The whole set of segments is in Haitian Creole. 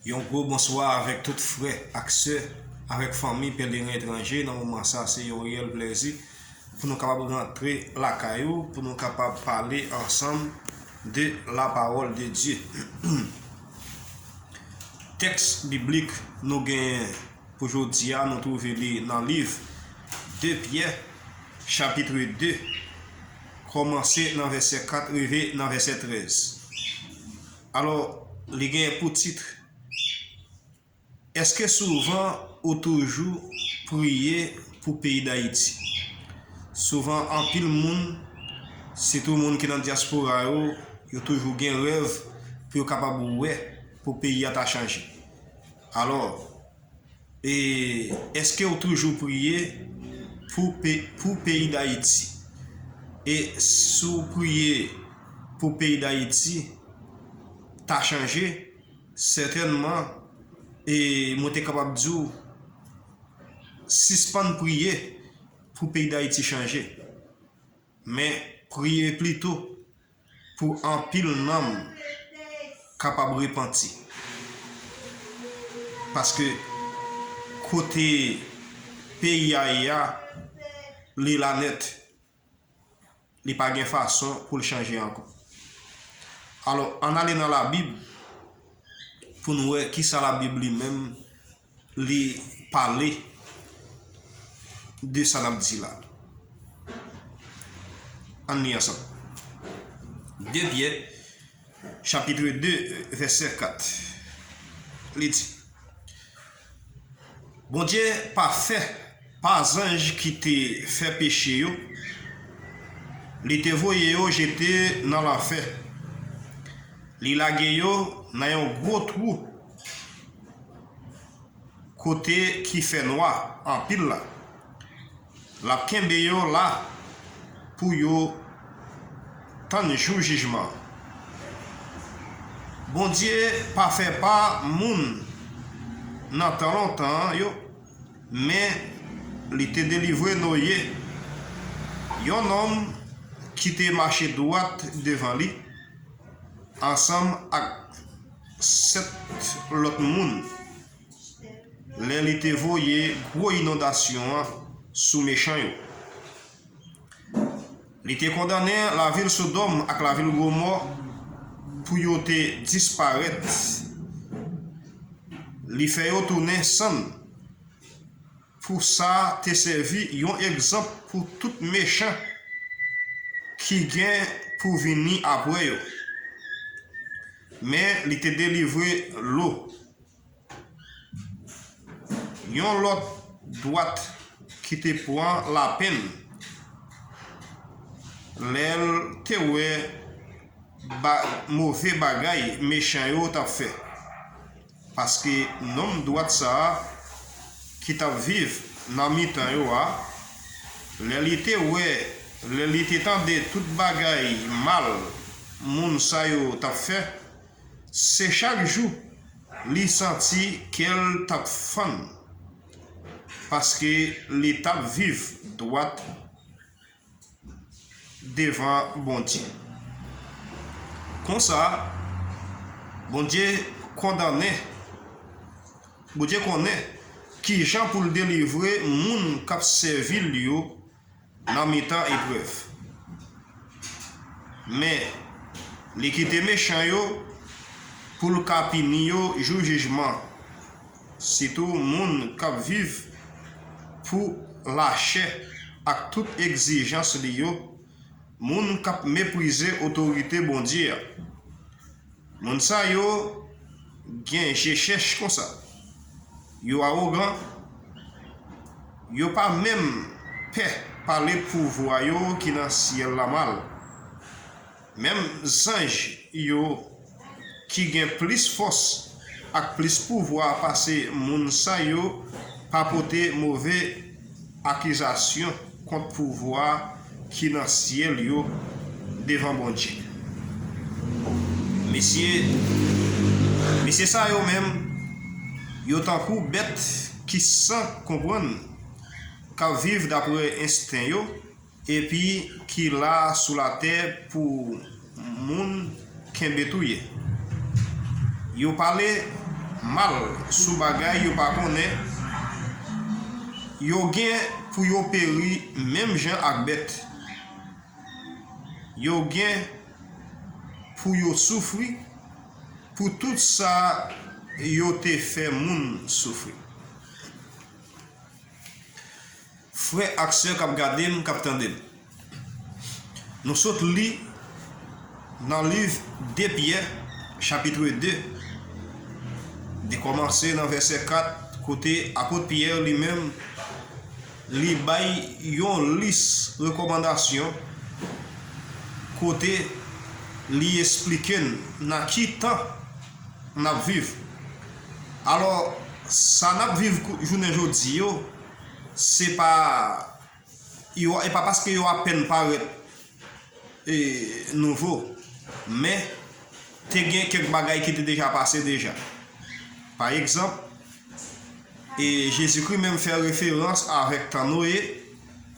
Yon gwo bonswa avèk tout frè ak sè, avèk fanmi Pèlerin Etranje nan moman sa se yon reyèl plèzi pou nou kapab rantre lakay ou pou nou kapab pale ansanm de la pawòl de Dye. Tèks biblik nou genyen. Pou jodi a, nou twouve li nan liv de Pyè, chapitre 2, kòmanse nan vèsè 4 rive nan vèsè 13. Alò, li gen pou titre, Èske souvan ou toujou priye pou peyi Dayiti? Souvan anpil moun, sitou moun ki nan dyaspora yo, yo toujou gen rèv pou yo kapab wè pou peyi a ta chanje. Alò, e, èske ou toujou priye pou pe, pou peyi Dayiti? E si w priye pou peyi Dayiti ta chanje, sètènman, e mwen te kapab di w, sispann priye pou peyi Dayiti chanje, men priye plito. Pou anpil nanm kapab repanti. Paske kote peyi a ye a, li la nèt. Li pa gen fason pou l chanje ankò. Alò, ann ale nan Labib pou n wè ki sa Labib li menm li pale de sa nap di la ann li ansanm 2 Pyè chapitre 2 vèsè 4 li di Bondye pa fè pa zanj ki te fè peche yo li te voye yo jete nan lanfè li lage yo nan yon gwo twou Kote ki fè nwa anpil la. Lap kenbe yo la pou yo tann jou jijman. Bondye pa fè pa moun nan tan lontan an yo, men li te delivre Noye, yon nonm ki te mache dwat devan li, ansanm ak. 7 lòt moun lè li te voye gwo inondasyon an sou mechan yo. Li te kondannen lavil Sodòm ak lavil Gomò pou yo te disparèt, li fè yo tounen sann. Pou sa te sèvi yon egzanp pou tout mechan ki gen pou vini apre yo. Men li te delivre Lo. Yon lòt dwat ki te pran lapenn lè l te wè move bagay mechan yo t ap fè. Paske nonm dwat sa a ki t ap viv nan mitan yo a, lè li te wè, lè li te tande tout bagay mal moun sa yo t ap fè, se chak jou li santi kè l t ap fann, paske li t ap viv dwat devan Bondye. Konsa, Bondye kondannen, Bondye konnen ki jan pou l delivre moun k ap sèvi l yo nan mitan eprèv. Men, li kite mechan yo pou l ka pini yo jou jijman. Sitou moun k ap viv pou lachè ak tout egzijans li yo, moun k ap meprize otorite Bondye a. Moun sa yo gen je chèch konsa, yo awogan, yo pa menm pè pale pouvwa yo ki nan syèl la mal. Menm zanj yo ki gen plis fòs ak plis pouvwa pase moun sa yo pa pote move akizasyon kont pouvwa ki nan syèl yo devan Bondye. Mesye mesye sa yo menm, yo tankou bèt ki san konprann, k ap viv dapre ensten yo, Epi ki la sou latè pou moun kenbe tou ye. Yo pale mal sou bagay yo pa konnen, yo gen pou yo peri menm jan ak bèt, yo gen pou yo soufri pou tout sa yo te fè moun soufri. Frè ak sè kap gade m, kap tande m. Nou sot li nan liv 2 Pyè chapitre 2, li kòmanse nan vèsè 4 kote apot Pyè li menm li bay yon lis rekòmandasyon kote li esplike n nan ki tan nap viv. Alò sa nap viv jounen jodi yo. se pa yo e pa paske yo apèn parèt e nouvo men te gen kèk bagay ki te deja pase deja pa egzanp e Jezikri menm fè referans avèk tan Noye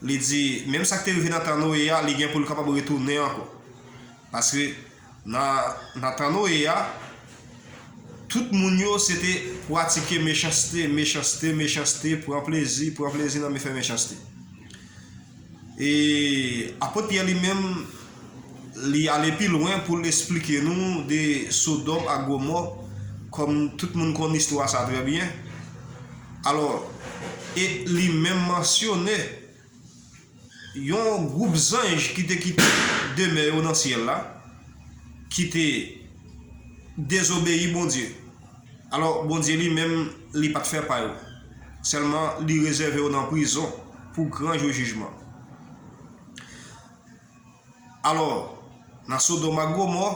li di menm sa ki te rive nan tan Noye a li gen pou l kapab retounen ankò paske Nan tan Noye a, tout moun yo se te pratike mechanste, mechanste, mechanste, pran plezi, pran plezi nan fè mechanste. E apot Pyè li menm, li ale pi lwen pou l esplike nou de Sodòm ak Gomò, kòm tout moun konn istwa sa trè byen. Alò, e li menm mansyone. Yon gwoup zanj ki te kite demè yo nan syèl la, ki te dezobeyi Bondye. Alò, Bondye li menm, li pa t fè pa yo. Sèlman, li rezève yo nan prizon pou gran jou jijman. Alò, nan Sodòm ak Gomò,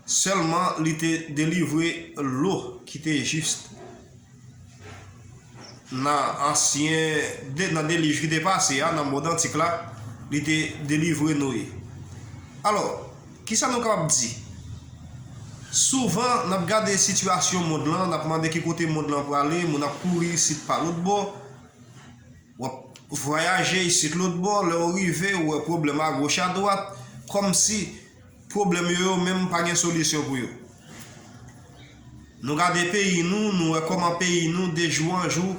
sèlman li te delivre Lo ki te jis nan ansyen, nan delij ki te pase a, nan mond antik la, li te delivre Noye. Alò, ki sa nou kapab di? Souvan, n ap gade sitiyasyon mond lan, n ap mande ki kote mond lan prale, moun ap kouri isit pa lòtbò, W ap vwayaje isit lotbò, lè w rive, ou wè pwoblèm agoch adwat, kòmsi pwoblèm yo yo menm pa gen solisyon pou yo. Nou gade peyi nou, nou wè kòman peyi nou de jou an jou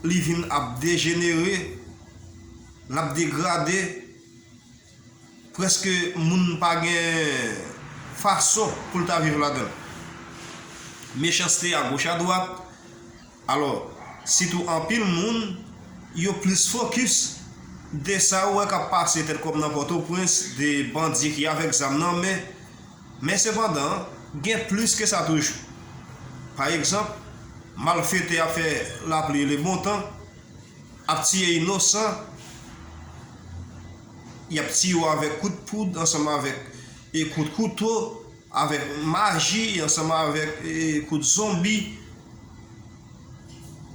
li vin ap dejenere, l ap degrade, Prèske moun pa gen fason pou l ta viv ladan l. Mechanste a goch a dwat, alò sitou anpil moun yo plis fokis de sa yo wè k ap pase tèt kòm nan Pòtoprens, de bandi ki avèk zam nan men. Men sepandan, gen plis ke sa toujou. Pa egzanp, malfetè ap fè lapli e lebontan Ap tiye inosan, y ap tiye w avèk kout poud ansanm avèk kout kouto, avèk maji ansanm avèk kout zonbi.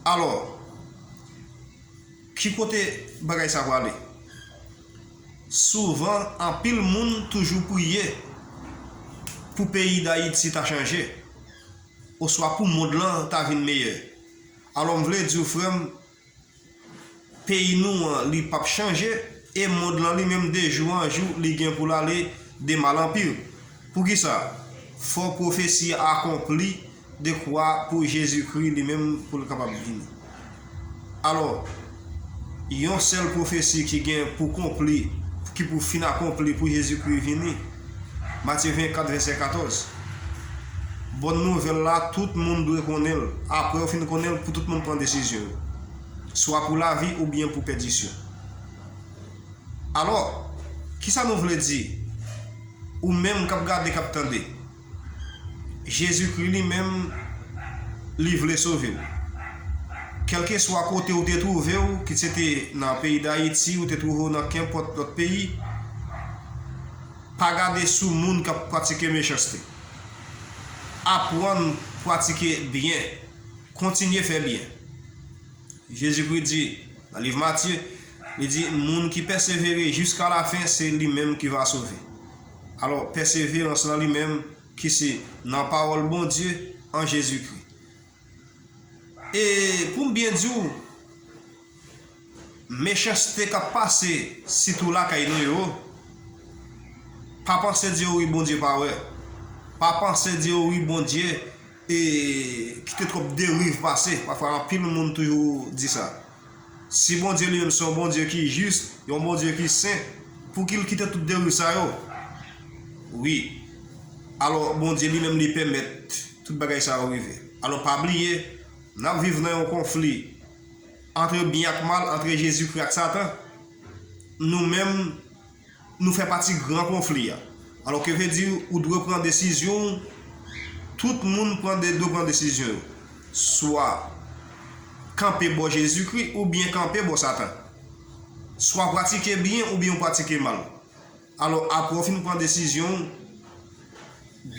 Alò, ki kote bagay sa prale? Souvan, anpil moun toujou priye pou peyi Dayiti ta chanje oswa pou mond lan ta vin meyè. Alò m vle di w frè m, peyi nou an li pap chanje, e mond lan li menm de jou an jou li gen pou l ale de mal an pi. Poukisa? Fò pwofesi a akonpli dekwa pou Jezikri li menm pou l kapab vini. Alò. yon sèl pwofesi ki gen pou konpli, ki pou fin akonpli pou Jezikri vini. Matye 24, vèsè 14 Bòn nouvèl la tout moun dwe konnen l. Apre yo fin konnen l, pou tout moun pran desizyon yo, swa pou lavi oubyen pou pèdisyon. Alò, kisa nou vle di, ou menm k ap gade, k ap tande? Jezikri li menm li vle sove w. Kèlkeswa kote ou te twouve w, kit se te nan peyi Dayiti, ou te twouve w nan kenpòt lòt peyi, pa gade sou moun k ap pratike mechanste. Aprann pratike byen. Kontinye fè byen. Jezikri di nan liv Matye, li di, moun ki pèsevere jiskalafen se li menm ki va sove. Alò, pèseverans lan li menm ki se nan pawòl Bondye an Jezikri. E pou m byen di w, mechanste k ap pase sitou lakay nou yo, pa panse di yo wi Bondye pa wè, pa panse di yo wi Bondye e kite twòp deriv pase, pafwa anpil moun toujou di sa. Si Bondye li menm se yon Bondye ki jis, yon Bondye ki sen, pouki l kite tout deriv sa yo? Wi, alò Bondye li menm li pèmèt tout bagay sa yo rive. Alò pa bliye, n ap viv nan yon konfli antre byen ak mal, antre Jezikri ak Satan. Nou menm. Nou fè pati gran konfli a. Alò ke vle di ou dwe pran desizyon w, tout moun pran de dwe pran desizyon yo. Swa kanpe bò Jezikri oubyen kanpe bò Satan. Swa pratike byen oubyen ou pratike mal. Alò apre ou fin pran desizyon w,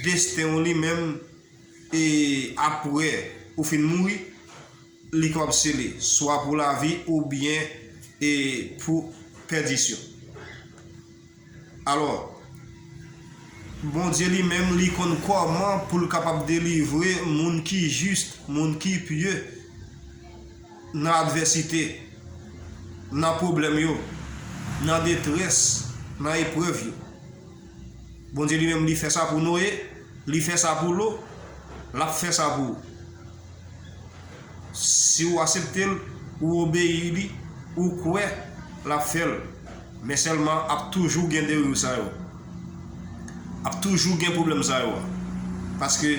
desten w li menm e apre ou fin mouri, Li kapab sele swa pou lavi oubyen e pou pèdisyon. Alò, Bondye li menm li konn kòman pou l kapab delivre moun ki jis, moun ki pye nan advèsite, nan pwoblèm yo, nan detrès, nan eprèv yo. Bondye li menm li fè sa pou Noye, li fè sa pou Lo, l ap fè sa pou ou. Si ou asepte l, ou obeyi li, ou kwè l ap fè l. Men sèlman ap toujou gen deriv sa yo. Ap toujou gen pwoblèm sa yo. Paske,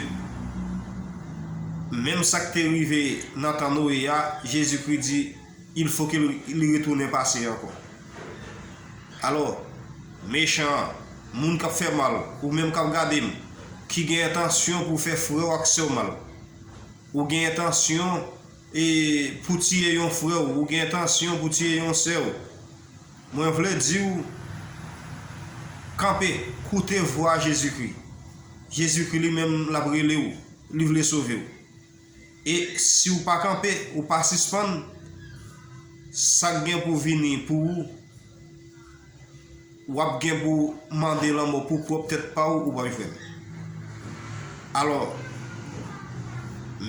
menm sa k te rive nan tan Noye a, Jezikri di, Il fo ke li retounen pase ankò. Alò, mechan an, moun k ap fè mal, ou menm k ap gade m, ki gen entansyon pou w fè frè w ak sè w mal, ou gen entansyon e pou w tiye yon frè w, ou gen entansyon pou w tiye yon sè w, mwen vle di w, Kanpe, koute vwa Jezikri. Jezikri li menm l ap rele w, li vle sove w. E si ou pa kanpe, ou pa sispann, sa k gen pou vini pou ou, w ap gen pou mande lanmò pou pwòp tèt pa ou, ou pa jwenn li. Alò,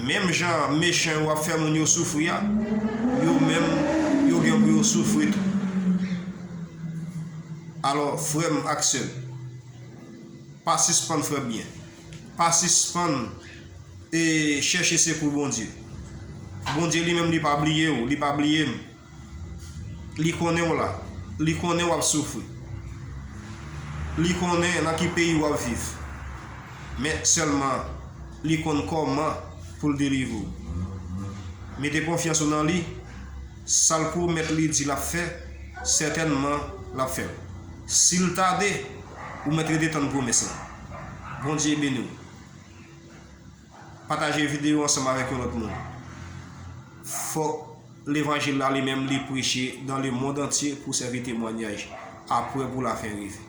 menm jan mechan yo ap fè moun yo soufri a, yo menm, yo gen pou yo soufri tou. Alò, frè m ak sè m, pa sispann fè byen. pa sispann e chèche sekou Bondye. Bondye li menm li pa bliye ou, li pa bliye m. Li konnen w la, li konnen w ap soufri. Li konnen nan ki peyi w ap viv. Men sèlman li konn kòman pou l delivre ou. Mete konfyans ou nan li, sa l pwomèt li di l ap fè, sètènman l ap fè l. Si l tade, ou mèt rete tann pwomès la. Bondye beniw. Pataje video ansanm avèk yon lòt moun. Fòk levanjil la li menm li preche dan le mond antye pou sèvi temwanyaj apre pou la fen rive.